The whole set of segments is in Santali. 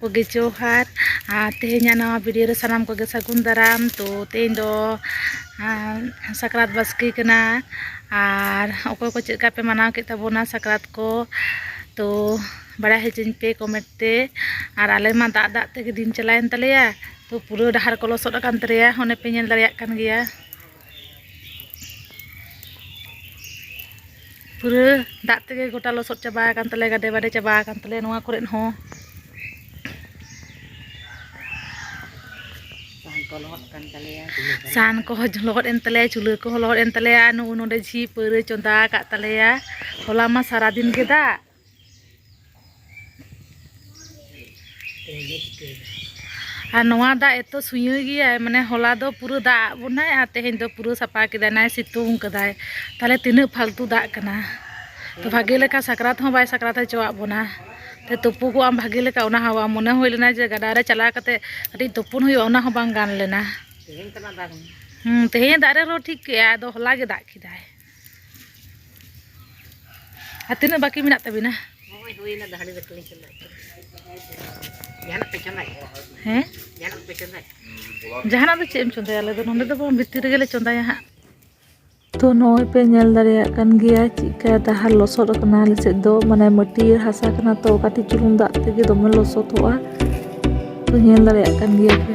ᱠᱚᱜᱮ ᱡᱚᱦᱟᱨ ᱟᱨ ᱛᱮᱦᱮᱧᱟᱜ ᱱᱟᱣᱟ ᱵᱷᱤᱰᱤᱭᱳ ᱨᱮ ᱥᱟᱱᱟᱢ ᱠᱚᱜᱮ ᱥᱟᱹᱜᱩᱱ ᱫᱟᱨᱟᱢ ᱛᱚ ᱛᱮᱦᱮᱧ ᱫᱚ ᱥᱟᱠᱨᱟᱛ ᱵᱟᱥᱠᱮ ᱠᱟᱱᱟ ᱟᱨ ᱚᱠᱚᱭ ᱠᱚ ᱪᱮᱫ ᱞᱮᱠᱟ ᱯᱮ ᱢᱟᱱᱟᱣ ᱠᱮᱫ ᱛᱟᱵᱚᱱᱟ ᱥᱟᱠᱨᱟᱛ ᱠᱚ ᱛᱚ ᱵᱟᱲᱟᱭ ᱦᱚᱪᱚᱧ ᱯᱮ ᱠᱚᱢᱮᱱᱴ ᱛᱮ ᱟᱨ ᱟᱞᱮ ᱢᱟ ᱫᱟᱜ ᱫᱟᱜ ᱛᱮᱜᱮ ᱫᱤᱱ ᱪᱟᱞᱟᱣᱮᱱ ᱛᱟᱞᱮᱭᱟ ᱛᱚ ᱯᱩᱨᱟᱹ ᱰᱟᱦᱟᱨ ᱠᱚ ᱞᱚᱥᱚᱫ ᱟᱠᱟᱱ ᱛᱟᱞᱮᱭᱟ ᱚᱱᱮ ᱯᱮ ᱧᱮᱞ ᱫᱟᱲᱮᱭᱟᱜ ᱠᱟᱱ ᱜᱮᱭᱟ ᱯᱩᱨᱟᱹ ᱫᱟᱜ ᱛᱮᱜᱮ ᱜᱚᱴᱟ ᱞᱚᱥᱚᱫ ᱪᱟᱵᱟ ᱟᱠᱟᱱ ᱛᱟᱞᱮᱭᱟ ᱜᱟᱰᱮ ᱵᱟᱰᱮ ᱪᱟᱵᱟ ᱟᱠᱟᱱ ᱛᱟᱞᱮᱭᱟ ᱱᱚᱣᱟ ᱠᱚᱨᱮ ᱦᱚᱸ ᱥᱟᱦᱟᱱ ᱠᱚᱦᱚᱸ ᱞᱚᱦᱚᱫ ᱮᱱ ᱛᱟᱞᱮᱭᱟ ᱪᱩᱞᱦᱟᱹ ᱠᱚᱦᱚᱸ ᱞᱚᱦᱚᱫ ᱮᱱ ᱛᱟᱞᱮᱭᱟ ᱱᱚᱜᱼᱚ ᱱᱚᱰᱮ ᱡᱷᱤᱡ ᱯᱟᱹᱣᱨᱟᱹ ᱪᱚᱸᱫᱟ ᱟᱠᱟᱫ ᱛᱟᱞᱮᱭᱟ ᱦᱚᱞᱟ ᱢᱟ ᱥᱟᱨᱟᱫᱤᱱ ᱜᱮ ᱫᱟᱜ ᱟᱨ ᱱᱚᱣᱟ ᱫᱟᱜ ᱮᱛᱚ ᱥᱩᱭᱟᱹ ᱜᱮᱭᱟ ᱢᱟᱱᱮ ᱦᱚᱞᱟ ᱫᱚ ᱯᱩᱨᱟᱹ ᱫᱟᱜ ᱟᱫ ᱵᱚᱱᱟᱭ ᱟᱨ ᱛᱮᱦᱮᱧ ᱫᱚ ᱯᱩᱨᱟᱹ ᱥᱟᱯᱷᱟ ᱠᱮᱫᱟᱭ ᱱᱟᱭ ᱥᱤᱛᱩᱝ ᱠᱟᱫᱟᱭ ᱛᱟᱦᱞᱮ ᱛᱤᱱᱟᱹᱜ ᱯᱷᱟᱞᱛᱩ ᱫᱟᱜ ᱠᱟᱱᱟ ᱛᱚ ᱵᱷᱟᱜᱮ ᱞᱮᱠᱟ ᱥᱟᱠᱨᱟᱛ ᱦᱚᱸ ᱵᱟᱭ ᱥᱟᱠᱨᱟᱛ ᱦᱚᱪᱚᱣᱟᱜ ᱵᱚᱱᱟ ᱛᱚ ᱛᱩᱯᱩᱠᱚᱜ ᱟᱢ ᱵᱷᱟᱜᱮ ᱞᱮᱠᱟ ᱚᱱᱟ ᱦᱚᱸ ᱵᱟᱝ ᱢᱚᱱᱮ ᱦᱩᱭ ᱞᱮᱱᱟ ᱡᱮ ᱜᱟᱰᱟ ᱨᱮ ᱪᱟᱞᱟᱣ ᱠᱟᱛᱮ ᱠᱟᱹᱴᱤᱡ ᱛᱩᱯᱩᱱ ᱦᱩᱭᱩᱜᱼᱟ ᱚᱱᱟ ᱦᱚᱸ ᱵᱟᱝ ᱜᱟᱱ ᱞᱮᱱᱟ ᱛᱮᱦᱮᱧ ᱫᱟᱜ ᱨᱮᱦᱚᱸ ᱴᱷᱤᱠ ᱜᱮᱭᱟ ᱟᱫᱚ ᱦᱚᱞᱟ ᱜᱮ ᱫᱟᱜ ᱠᱮᱫᱟᱭ ᱟᱨ ᱛᱤᱱᱟᱹᱜ ᱵᱟᱹᱠᱤ ᱢᱮᱱᱟᱜ ᱛᱟᱹᱵᱤᱱᱟ ᱦᱳᱭ ᱦᱩᱭᱱᱟ ᱫᱟᱦᱲᱤ ᱫᱟᱠᱞᱤᱧ ᱪᱟᱞᱟᱜ ᱡᱟᱦᱟᱱᱟᱜ ᱯᱮ ᱪᱚᱸᱫᱟᱭ ᱦᱮᱸ ᱡᱟᱦᱟᱱᱟᱜ ᱯᱮ ᱪᱚᱸᱫᱟᱭ ᱡᱟᱦᱟᱱᱟᱜ ᱫᱚ ᱪᱮᱫ ᱮᱢ ᱪᱚᱸᱫᱟᱭᱟ ᱟᱞᱮ ᱫᱚ ᱱᱚᱸᱰᱮ ᱫᱚ ᱵᱟᱝ ᱵᱷᱤᱛᱤᱨ ᱨᱮᱜᱮᱞᱮ ᱪᱚᱸᱫᱟᱭᱟ ᱦᱟᱸᱜ ᱛᱚ ᱱᱚᱜᱼᱚᱭ ᱯᱮ ᱧᱮᱞ ᱫᱟᱲᱮᱭᱟᱜ ᱠᱟᱱ ᱜᱮᱭᱟ ᱪᱮᱫᱠᱟ ᱰᱟᱦᱟᱨ ᱞᱚᱥᱚᱫ ᱟᱠᱟᱱᱟ ᱟᱞᱮ ᱥᱮᱫ ᱫᱚ ᱢᱟᱱᱮ ᱢᱟᱹᱴᱭᱟᱹᱲ ᱦᱟᱥᱟ ᱠᱟᱱᱟ ᱛᱚ ᱠᱟᱹᱴᱤᱡ ᱪᱩᱞᱩᱝ ᱫᱟᱜ ᱛᱮᱜᱮ ᱫᱚᱢᱮ ᱞᱚᱥᱚᱫᱚᱜᱼᱟ ᱛᱚ ᱧᱮᱞ ᱫᱟᱲᱮᱭᱟᱜ ᱠᱟᱱ ᱜᱮᱭᱟ ᱯᱮ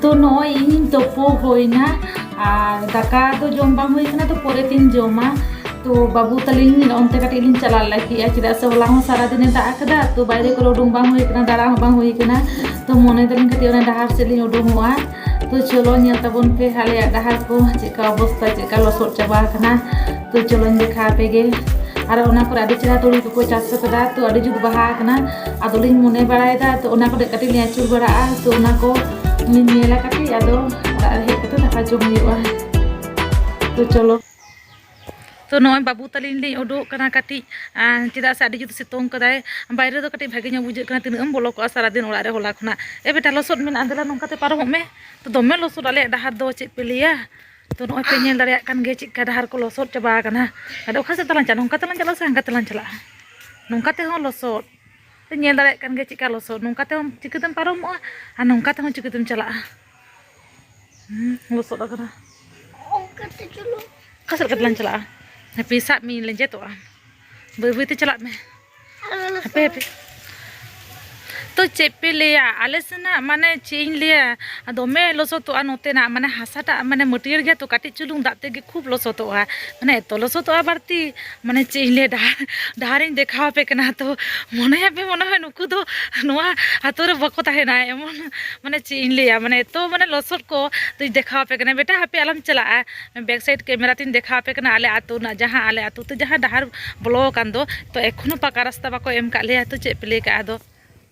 ᱛᱚ ᱱᱚᱜᱼᱚᱭ ᱤᱧ ᱛᱳᱯᱳ ᱦᱩᱭᱱᱟ ᱟᱨ ᱫᱟᱠᱟ ᱫᱚ ᱡᱚᱢ ᱵᱟᱝ ᱦᱩᱭ ᱠᱟᱱᱟ ᱛᱚ ᱯᱚᱨᱮ ᱛᱤᱧ ᱡᱚᱢᱟ ᱛᱚ ᱵᱟᱹᱵᱩ ᱛᱟᱹᱞᱤᱧ ᱚᱱᱛᱮ ᱠᱟᱹᱴᱤᱡ ᱞᱤᱧ ᱪᱟᱞᱟᱣ ᱞᱟᱹᱜᱤᱫᱼᱟ ᱪᱮᱫᱟᱜ ᱥᱮ ᱦᱚᱞᱟ ᱦᱚᱸ ᱥᱟᱨᱟ ᱫᱤᱱᱮ ᱫᱟᱜ ᱟᱠᱟᱫᱟ ᱛᱚ ᱵᱟᱭᱨᱮ ᱠᱚᱨᱮ ᱩᱰᱩᱝ ᱵᱟᱝ ᱦᱩᱭ ᱠᱟᱱᱟ ᱫᱟᱬᱟ ᱦᱚᱸ ᱵᱟᱝ ᱦᱩᱭ ᱠᱟᱱᱟ ᱛᱚ ᱢᱚᱱᱮ ᱫᱟᱞᱤᱧ ᱠᱟᱹᱴᱤᱡ ᱚᱱᱟ ᱰᱟᱦᱟᱨ ᱥᱮᱫ ᱞᱤᱧ ᱩᱰᱩᱝᱚᱜᱼᱟ ᱛᱚ ᱪᱚᱞᱚ ᱧᱮᱞ ᱛᱟᱵᱚᱱ ᱯᱮ ᱟᱞᱮᱭᱟᱜ ᱰᱟᱦᱟᱨ ᱠᱚ ᱪᱮᱫᱠᱟ ᱚᱵᱚᱥᱛᱟ ᱪᱮᱫᱠᱟ ᱞᱚᱥᱚᱫ ᱪᱟᱵᱟ ᱟᱠᱟᱱᱟ ᱛᱚ ᱪᱚᱞᱚᱧ ᱫᱮᱠᱷᱟ ᱟᱯᱮ ᱜᱮ ᱟᱨ ᱚᱱᱟ ᱠᱚᱨᱮ ᱟᱹᱰᱤ ᱪᱮᱦᱨᱟ ᱛᱩᱲᱤ ᱠᱚᱠᱚ ᱪᱟᱥ ᱟᱠᱟᱫᱟ ᱛᱚ ᱟᱹᱰᱤ ᱡᱩᱛ ᱵᱟᱦᱟ ᱟᱠᱟᱱᱟ ᱟᱫᱚᱞᱤᱧ ᱢᱚᱱᱮ ᱵᱟᱲᱟᱭᱮᱫᱟ ᱛᱚ ᱚᱱᱟ ᱠᱚᱨᱮ ᱠᱟᱹᱴᱤᱡ ᱞᱤᱧ ᱟᱹᱪᱩᱨ ᱵᱟᱲᱟᱜᱼᱟ ᱛᱚ ᱚᱱᱟ ᱠᱚ ᱞᱤᱧ ᱧᱮᱞᱟ ᱠᱟᱹᱴᱤᱡ ᱟᱫᱚ ᱚᱲᱟᱜ ᱨᱮ ᱦᱮᱡ ᱠᱟᱛᱮ ᱫᱟᱠᱟ ᱡᱚᱢ ᱦᱩᱭᱩᱜᱼᱟ ᱛᱚ ᱪᱚᱞᱚ ᱛᱚ ᱱᱚᱜᱼᱚᱭ ᱵᱟᱹᱵᱩ ᱛᱟᱹᱞᱤᱧ ᱞᱤᱧ ᱩᱰᱩᱠ ᱠᱟᱱᱟ ᱠᱟᱹᱴᱤᱡ ᱪᱮᱫᱟᱜ ᱥᱮ ᱟᱹᱰᱤ ᱡᱩᱛ ᱥᱤᱛᱩᱝ ᱠᱟᱫᱟᱭ ᱵᱟᱭᱨᱮ ᱫᱚ ᱠᱟᱹᱴᱤᱡ ᱵᱷᱟᱜᱮ ᱧᱚᱜ ᱵᱩᱡᱷᱟᱹᱜ ᱠᱟᱱᱟ ᱛᱤᱱᱟᱹᱜ ᱮᱢ ᱵᱚᱞᱚ ᱠᱚᱜᱼᱟ ᱥᱟᱨᱟ ᱫᱤᱱ ᱚᱲᱟᱜ ᱨᱮ ᱦᱚᱞᱟ ᱠᱷᱚᱱᱟᱜ ᱮ ᱵᱮᱴᱟ ᱞᱚᱥᱚᱫ ᱢᱮᱱᱟᱜᱼᱟ ᱫᱮᱞᱟ ᱱᱚᱝᱠᱟ ᱛᱮ ᱯᱟᱨᱚᱢᱚᱜ ᱢᱮ ᱛᱚ ᱫᱚᱢᱮ ᱞᱚᱥᱚᱫ ᱟᱞᱮᱭᱟᱜ ᱰᱟᱦᱟᱨ ᱫᱚ ᱪᱮᱫ ᱯᱮ ᱞᱟᱹᱭᱟ ᱛᱚ ᱱᱚᱜᱼᱚᱭ ᱯᱮ ᱧᱮᱞ ᱫᱟᱲᱮᱭᱟᱜ ᱠᱟᱱ ᱜᱮᱭᱟ ᱪᱮᱫᱠᱟ ᱰᱟᱦᱟᱨ ᱠᱚ ᱞᱚᱥᱚᱫ ᱪᱟᱵᱟ ᱟᱠᱟᱱᱟ ᱟᱫᱚ ᱚᱠᱟ ᱥᱮᱫ ᱛᱮᱞᱟᱝ ᱪᱟᱞᱟᱜᱼᱟ ᱱᱚᱝᱠᱟ ᱛᱮᱞᱟᱝ ᱪᱟᱞᱟᱜᱼᱟ ᱥᱮ ᱦᱟᱱᱠᱟ ᱛᱮᱞᱟᱝ ᱪᱟᱞᱟᱜᱼᱟ ᱱᱚᱝᱠᱟ ᱛᱮᱦᱚᱸ ᱞᱚᱥᱚᱫ ᱯᱮ ᱧᱮᱞ ᱫᱟᱲᱮᱭᱟᱜ ᱠᱟᱱ ᱜᱮᱭᱟ ᱪᱮᱫᱠᱟ ᱞᱚᱥᱚᱫ ᱱᱚᱝᱠᱟ ᱛᱮᱦᱚᱸ ᱪᱤᱠᱟᱹᱛᱮᱢ ᱯᱟᱨᱚᱢᱚᱜᱼᱟ ᱟᱨ ᱱᱚᱝᱠᱟ ᱛᱮᱦᱚᱸ ᱪᱤᱠᱟᱹᱛᱮᱢ ᱪᱟᱞᱟᱜᱼᱟ ᱞᱚᱥᱚᱫ ᱟᱠᱟᱱᱟ ᱚᱠᱟ ᱥᱮᱫ ᱠᱟᱛᱮ ᱞᱟᱝ ᱪᱟᱞᱟᱜᱼᱟ ᱦᱟᱯᱮ ᱥᱟᱵ ᱢᱤᱧ ᱞᱮᱸᱡᱮᱫᱚᱜᱼᱟ ᱵᱟᱹᱭ ᱵᱟᱹᱭᱛᱮ ᱪᱟᱞᱟᱜ ᱢᱮ ᱦᱟᱯᱮ ᱦᱟᱯᱮ ᱛᱚ ᱪᱮᱫ ᱯᱮ ᱞᱟᱹᱭᱟ ᱟᱞᱮ ᱥᱮᱱᱟᱜ ᱢᱟᱱᱮ ᱪᱮᱫ ᱤᱧ ᱞᱟᱹᱭᱟ ᱫᱚᱢᱮ ᱞᱚᱥᱚᱫᱚᱜᱼᱟ ᱱᱚᱛᱮᱱᱟᱜ ᱢᱟᱱᱮ ᱦᱟᱥᱟᱴᱟᱜ ᱢᱟᱱᱮ ᱢᱟᱹᱴᱭᱟᱹᱲ ᱜᱮᱭᱟ ᱛᱚ ᱠᱟᱹᱴᱤᱡ ᱪᱩᱞᱩᱝ ᱫᱟᱜ ᱛᱮᱜᱮ ᱠᱷᱩᱵ ᱞᱚᱥᱚᱫᱚᱜᱼᱟ ᱢᱟᱱᱮ ᱮᱛᱚ ᱞᱚᱥᱚᱫᱚᱜᱼᱟ ᱵᱟᱹᱲᱛᱤ ᱢᱟᱱᱮ ᱪᱮᱫ ᱤᱧ ᱞᱟᱹᱭᱟ ᱰᱟᱦᱟᱨ ᱰᱟᱦᱟᱨᱤᱧ ᱫᱮᱠᱷᱟᱣ ᱟᱯᱮ ᱠᱟᱱᱟ ᱛᱚ ᱢᱚᱱᱮᱭᱟᱯᱮ ᱢᱚᱱᱮ ᱦᱚᱭ ᱱᱩᱠᱩ ᱫᱚ ᱱᱚᱣᱟ ᱟᱛᱳ ᱨᱮ ᱵᱟᱠᱚ ᱛᱟᱦᱮᱱᱟ ᱮᱢᱚᱱ ᱢᱟᱱᱮ ᱪᱮᱫ ᱤᱧ ᱞᱟᱹᱭᱟ ᱢᱟᱱᱮ ᱮᱛᱚ ᱢᱟᱱᱮ ᱞᱚᱥᱚᱫ ᱠᱚ ᱛᱚᱧ ᱫᱮᱠᱷᱟᱣ ᱟᱯᱮ ᱠᱟᱱᱟ ᱵᱮᱴᱟ ᱦᱟᱯᱮ ᱟᱞᱚᱢ ᱪᱟᱞᱟᱜᱼᱟ ᱵᱮᱠ ᱥᱟᱭᱤᱰ ᱠᱮᱢᱮᱨᱟ ᱛᱤᱧ ᱫᱮᱠᱷᱟᱣ ᱟᱯᱮ ᱠᱟᱱᱟ ᱟᱞᱮ ᱟᱛᱳ ᱨᱮᱱᱟᱜ ᱡᱟᱦᱟᱸ ᱟᱞᱮ ᱟᱛᱳ ᱛᱮ ᱡᱟᱦᱟᱸ ᱰᱟᱦᱟᱨ ᱵᱚᱞᱚ ᱟᱠᱟᱱ ᱫᱚ ᱛᱚ ᱮᱠᱷᱚᱱᱳ ᱯᱟᱠᱟ ᱨᱟᱥᱛᱟ ᱵᱟᱠᱚ ᱮᱢ ᱠᱟᱜ ᱞᱮᱭᱟ ᱛᱚ ᱪᱮᱫ ᱯᱮ ᱞᱟᱹᱭ ᱠᱟᱜᱼᱟ ᱟᱫᱚ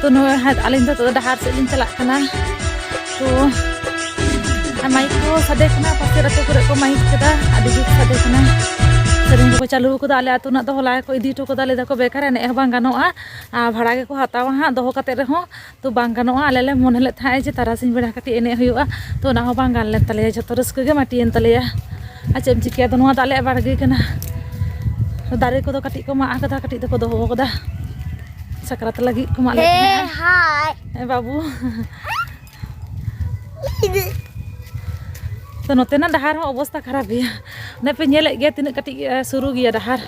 ᱛᱚ ᱱᱚᱣᱟ ᱟᱹᱞᱤᱧ ᱫᱚ ᱱᱤᱛᱚᱜ ᱫᱚ ᱰᱟᱦᱟᱨ ᱥᱮᱫ ᱞᱤᱧ ᱪᱟᱞᱟᱜ ᱠᱟᱱᱟ ᱛᱚ ᱟᱨ ᱢᱟᱭᱤᱠ ᱠᱚ ᱥᱟᱰᱮ ᱠᱟᱱᱟ ᱯᱟᱥᱮᱨ ᱟᱹᱛᱩ ᱠᱚᱨᱮ ᱠᱚ ᱢᱟᱭᱤᱠ ᱠᱮᱫᱟ ᱟᱹᱰᱤ ᱡᱩᱛ ᱥᱟᱰᱮ ᱠᱟᱱᱟ ᱥᱮᱨᱮᱧ ᱠᱚᱠᱚ ᱪᱟᱹᱞᱩ ᱠᱟᱫᱟ ᱟᱞᱮ ᱟᱹᱛᱩ ᱨᱮᱱᱟᱜ ᱫᱚ ᱦᱚᱞᱟ ᱜᱮᱠᱚ ᱤᱫᱤ ᱦᱚᱴᱚ ᱠᱟᱫᱟ ᱞᱟᱹᱭ ᱫᱟᱠᱚ ᱵᱮᱠᱟᱨ ᱮᱱᱮᱡ ᱦᱚᱸ ᱵᱟᱝ ᱜᱟᱱᱚᱜᱼᱟ ᱟᱨ ᱵᱷᱟᱲᱟ ᱜᱮᱠᱚ ᱦᱟᱛᱟᱣᱟ ᱦᱟᱸᱜ ᱫᱚᱦᱚ ᱠᱟᱛᱮᱫ ᱨᱮᱦᱚᱸ ᱛᱚ ᱵᱟᱝ ᱜᱟᱱᱚᱜᱼᱟ ᱟᱞᱮ ᱞᱮ ᱢᱚᱱᱮ ᱞᱮᱫ ᱛᱟᱦᱮᱸᱫ ᱡᱮ ᱛᱟᱨᱟᱥᱤᱧ ᱵᱮᱲᱟ ᱠᱟᱹᱴᱤᱡ ᱮᱱᱮᱡ ᱦᱩᱭᱩᱜᱼᱟ ᱛᱚ ᱚᱱᱟ ᱦᱚᱸ ᱵᱟᱝ ᱜᱟᱱ ᱞᱮᱱ ᱛᱟᱞᱮᱭᱟ ᱡᱷᱚᱛᱚ ᱨᱟᱹᱥᱠᱟᱹ ᱜᱮ ᱢᱟᱹᱴᱤᱭᱮᱱ ᱛᱟᱞᱮᱭᱟ ᱟᱨ ᱪᱮᱫ ᱮᱢ ᱪᱤᱠᱟᱹᱭᱟ ᱟᱫᱚ ᱱᱚᱣᱟ ᱫᱚ ᱟᱞᱮᱭᱟᱜ ᱵᱟᱲᱜᱮ ᱠᱟᱱᱟ ᱫᱟᱨᱮ ᱠᱚᱫᱚ ᱠᱟᱹᱴᱤᱡ ᱠᱚ ᱢᱟᱜ ᱟᱠᱟᱫᱟ ᱠᱟᱹᱴᱤᱡ ᱫᱚᱠᱚ ᱫᱚᱦᱚ ᱟᱠᱟᱫᱟ ᱥᱟᱠᱨᱟᱛ ᱞᱟᱹᱜᱤᱫ ᱠᱚ ᱢᱟᱜ ᱞᱮᱫ ᱛᱟᱦᱮᱸᱫ ᱵᱟᱹᱵᱩ ᱛᱚ ᱱᱚᱛᱮᱱᱟᱜ ᱰᱟᱦᱟᱨ ᱦᱚᱸ ᱚᱵᱚᱥᱛᱟ ᱠᱷᱟᱨᱟᱯ ᱜᱮᱭᱟ ᱚᱱᱮ ᱯᱮ ᱧᱮᱞᱮᱫ ᱜᱮᱭᱟ ᱛᱤᱱᱟᱹᱜ ᱠᱟᱹᱴᱤᱡ ᱥᱩᱨᱩ ᱜᱮᱭᱟ ᱰᱟᱦᱟᱨ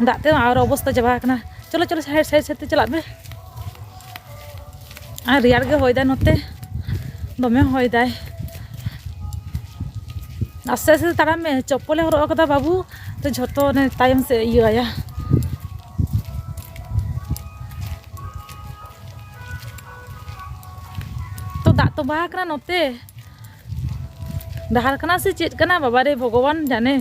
ᱫᱟᱜ ᱛᱮ ᱟᱨ ᱚᱵᱚᱥᱛᱟ ᱪᱟᱵᱟ ᱟᱠᱟᱱᱟ ᱪᱚᱞᱚ ᱪᱚᱞᱚ ᱥᱟᱭᱤᱰ ᱥᱟᱭᱤᱰ ᱥᱟᱭᱤᱰ ᱛᱮ ᱪᱟᱞᱟᱜ ᱢᱮ ᱟᱨ ᱨᱮᱭᱟᱲ ᱜᱮ ᱦᱚᱭ ᱫᱟᱭ ᱱᱚᱛᱮ ᱫᱚᱢᱮ ᱦᱚᱭ ᱫᱟᱭ ᱟᱥᱛᱮ ᱟᱥᱛᱮ ᱛᱟᱲᱟᱢ ᱢᱮ ᱪᱚᱯᱯᱚᱞᱮ ᱦᱚᱨᱚᱜ ᱟᱠᱟᱫᱟ ᱵᱟᱹᱵᱩ ᱛᱚ ᱡᱷᱚᱛᱚ ᱚᱱᱮ ᱛᱟᱭᱚᱢ ᱥᱮᱫ ᱤᱭᱟᱹᱭᱟ ᱛᱚ ᱫᱟᱜ ᱛᱚᱸᱵᱟ ᱟᱠᱟᱱᱟ ᱱᱚᱛᱮ ᱰᱟᱦᱟᱨ ᱠᱟᱱᱟ ᱥᱮ ᱪᱮᱫ ᱠᱟᱱᱟ ᱵᱟᱵᱟ ᱨᱮ ᱵᱷᱚᱜᱚᱵᱟᱱ ᱡᱟᱱᱮ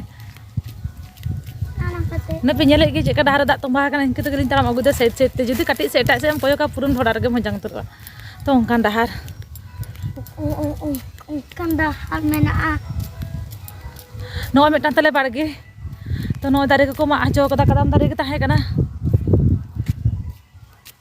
ᱱᱟ ᱯᱮ ᱧᱮᱞᱮ ᱜᱮ ᱪᱮᱫ ᱠᱟ ᱰᱟᱦᱟᱨ ᱫᱟᱜ ᱛᱚᱸᱵᱟ ᱠᱟᱱᱟ ᱤᱱᱠᱟᱹ ᱛᱮᱜᱮ ᱞᱤᱧ ᱛᱟᱲᱟᱢ ᱟᱹᱜᱩᱭ ᱫᱟ ᱥᱮᱫ ᱥᱮᱫ ᱛᱮ ᱡᱩᱫᱤ ᱠᱟᱹᱴᱤᱡ ᱥᱮ ᱮᱴᱟᱜ ᱥᱮᱫ ᱮᱢ ᱠᱚᱭᱚᱜᱟ ᱯᱩᱨᱟᱹ ᱰᱷᱚᱰᱟ ᱨᱮᱜᱮ ᱢᱚᱡᱟᱝ ᱩᱛᱟᱹᱨᱚᱜᱼᱟ ᱛᱚ ᱚᱱᱠᱟᱱ ᱰᱟᱦᱟᱨ ᱚᱱᱠᱟᱱ ᱰᱟᱦᱟᱨ ᱢᱮᱱᱟᱜᱼᱟ ᱱᱚᱜᱼᱚᱭ ᱢᱤᱫᱴᱟᱝ ᱛᱟᱞᱮ ᱵᱟᱲᱜᱮ ᱛᱚ ᱱᱚᱜᱼᱚᱭ ᱫᱟᱨᱮ ᱠᱚᱠᱚ ᱢᱟᱜ ᱦᱚᱪᱚ ᱠᱟᱫᱟ ᱠᱟᱫᱟᱢ ᱫᱟᱨᱮ ᱜᱮ ᱛᱟᱦᱮᱸ ᱠᱟᱱᱟ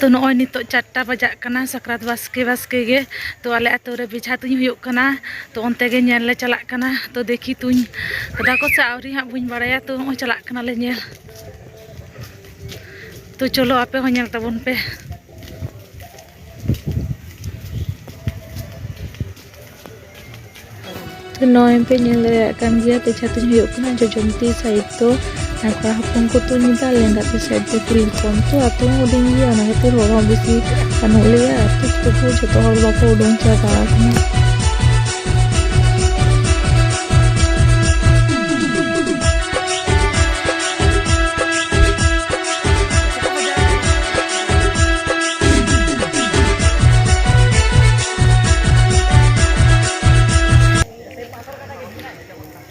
ᱛᱚ ᱱᱚᱜᱼᱚᱭ ᱱᱤᱛᱚᱜ ᱪᱟᱨᱴᱟ ᱵᱟᱡᱟᱜ ᱠᱟᱱᱟ ᱥᱟᱠᱨᱟᱛ ᱵᱟᱥᱠᱮ ᱵᱟᱥᱠᱮ ᱜᱮ ᱛᱚ ᱟᱞᱮ ᱟᱹᱛᱩ ᱨᱮ ᱵᱮᱡᱷᱟ ᱛᱩᱧ ᱦᱩᱭᱩᱜ ᱠᱟᱱᱟ ᱛᱚ ᱚᱱᱛᱮ ᱜᱮ ᱧᱮᱞ ᱞᱮ ᱪᱟᱞᱟᱜ ᱠᱟᱱᱟ ᱛᱚ ᱫᱮᱠᱷᱤ ᱛᱩᱧ ᱠᱟᱫᱟ ᱠᱚ ᱥᱮ ᱟᱹᱣᱨᱤ ᱦᱟᱸᱜ ᱵᱟᱹᱧ ᱵᱟᱲᱟᱭᱟ ᱛᱚ ᱱᱚᱜᱼᱚᱭ ᱪᱟᱞᱟᱜ ᱠᱟᱱᱟᱞᱮ ᱧᱮᱞ ᱛᱚ ᱪᱚᱞᱚ ᱟᱯᱮ ᱦᱚᱸ ᱧᱮᱞ ᱛᱟᱵᱚᱱ ᱯᱮ ᱛᱚ ᱱᱚᱜᱼᱚᱭ ᱯᱮ ᱧᱮᱞ ᱫᱟᱲᱮᱭᱟᱜ ᱠᱟᱱ ᱜᱮᱭᱟ ᱯᱮᱪᱷᱟ ᱛᱤᱧ ᱦᱩᱭᱩᱜ ᱠᱟᱱᱟ ᱡᱚᱡᱚᱢ ᱛᱤ ᱥᱟᱭᱤᱰ ᱫᱚ ᱠᱚᱲᱟ ᱦᱚᱯᱚᱱ ᱠᱚ ᱛᱩᱧ ᱮᱫᱟ ᱞᱮᱸᱜᱟ ᱛᱤ ᱥᱟᱭᱤᱰ ᱫᱚ ᱠᱩᱲᱤ ᱦᱚᱯᱚᱱ ᱛᱚ ᱟᱛᱳ ᱦᱚᱸ ᱦᱩᱰᱤᱧ ᱜᱮᱭᱟ ᱚᱱᱟ ᱠᱷᱟᱹᱛᱤᱨ ᱦᱚᱲ ᱦᱚᱸ ᱵᱮᱥᱤ ᱵᱟᱹᱱᱩᱜ ᱞᱮᱭᱟ ᱟᱛᱳ ᱛᱚᱵᱩ ᱡᱚᱛᱚ ᱦᱚᱲ ᱵᱟᱠᱚ ᱩᱰᱩᱝ ᱪᱟᱵᱟ ᱟᱠᱟᱱᱟ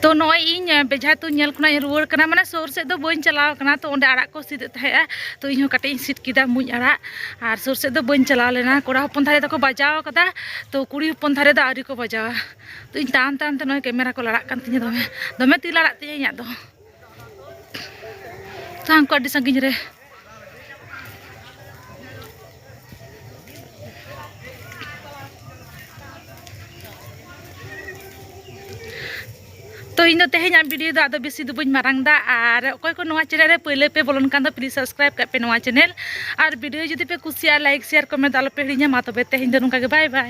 ᱛᱚ ᱱᱚᱜᱼᱚᱭ ᱤᱧ ᱵᱮᱡᱷᱟ ᱛᱩᱧ ᱧᱮᱞ ᱠᱷᱚᱱᱟᱜ ᱤᱧ ᱨᱩᱣᱟᱹᱲ ᱠᱟᱱᱟ ᱢᱟᱱᱮ ᱥᱩᱨ ᱥᱮᱫ ᱫᱚ ᱵᱟᱹᱧ ᱪᱟᱞᱟᱣ ᱠᱟᱱᱟ ᱛᱚ ᱚᱸᱰᱮ ᱟᱲᱟᱜ ᱠᱚ ᱥᱤᱫᱮᱫ ᱛᱟᱦᱮᱸᱜᱼᱟ ᱛᱚ ᱤᱧ ᱦᱚᱸ ᱠᱟᱹᱴᱤᱡ ᱤᱧ ᱥᱤᱫ ᱠᱮᱫᱟ ᱢᱩᱸᱡ ᱟᱲᱟᱜ ᱟᱨ ᱥᱩᱨ ᱥᱮᱫ ᱫᱚ ᱵᱟᱹᱧ ᱪᱟᱞᱟᱣ ᱞᱮᱱᱟ ᱠᱚᱲᱟ ᱦᱚᱯᱚᱱ ᱫᱷᱟᱨᱮ ᱫᱚᱠᱚ ᱵᱟᱡᱟᱣ ᱠᱟᱫᱟ ᱛᱚ ᱠᱩᱲᱤ ᱦᱚᱯᱚᱱ ᱫᱷᱟᱨᱮ ᱫᱚ ᱟᱹᱣᱨᱤ ᱠᱚ ᱵᱟᱡᱟᱣᱟ ᱛᱚ ᱤᱧ ᱛᱟᱲᱟᱢ ᱛᱟᱲᱟᱢ ᱛᱮ ᱱᱚᱜᱼᱚᱭ ᱠᱮᱢᱮᱨᱟ ᱠᱚ ᱞᱟᱲᱟᱜ ᱠᱟᱱ ᱛᱤᱧᱟᱹ ᱫᱚᱢᱮ ᱫᱚᱢᱮ ᱛᱤ ᱞᱟᱲᱟᱜ ᱛᱤᱧᱟᱹ ᱤᱧᱟᱹᱜ ᱫᱚ ᱥᱟᱝ ᱠᱚ ᱟᱹᱰᱤ ᱥᱟᱺᱜᱤᱧ ᱨᱮ ᱛᱚ ᱤᱧ ᱫᱚ ᱛᱮᱦᱮᱧ ᱟᱢ ᱵᱷᱤᱰᱤᱭᱳ ᱫᱚ ᱟᱫᱚ ᱵᱮᱥᱤ ᱫᱚ ᱵᱟᱹᱧ ᱢᱟᱨᱟᱝ ᱫᱟ ᱟᱨ ᱚᱠᱚᱭ ᱠᱚ ᱱᱚᱣᱟ ᱪᱮᱱᱮᱞ ᱨᱮ ᱯᱟᱹᱭᱞᱟᱹ ᱯᱮ ᱵᱚᱞᱚᱱ ᱠᱟᱱ ᱫᱚ ᱯᱞᱤᱡ ᱥᱟᱵᱥᱠᱨᱟᱭᱤᱵ ᱠᱟᱜ ᱯᱮ ᱱᱚᱣᱟ ᱪᱮᱱᱮᱞ ᱟᱨ ᱵᱷᱤᱰᱤᱭᱳ ᱡᱩᱫᱤ ᱯᱮ ᱠᱩᱥᱤᱭᱟᱜᱼᱟ ᱞᱟᱭᱤᱠ ᱥᱮᱭᱟᱨ ᱠᱚᱢᱮᱱᱴ ᱟᱞᱚ ᱯᱮ ᱦᱤᱲᱤᱧᱟ ᱢᱟ ᱛᱚᱵᱮ ᱛᱮᱦᱮᱧ ᱫᱚ ᱱᱚᱝᱠᱟ ᱜᱮ ᱵᱟᱭ ᱵᱟᱭ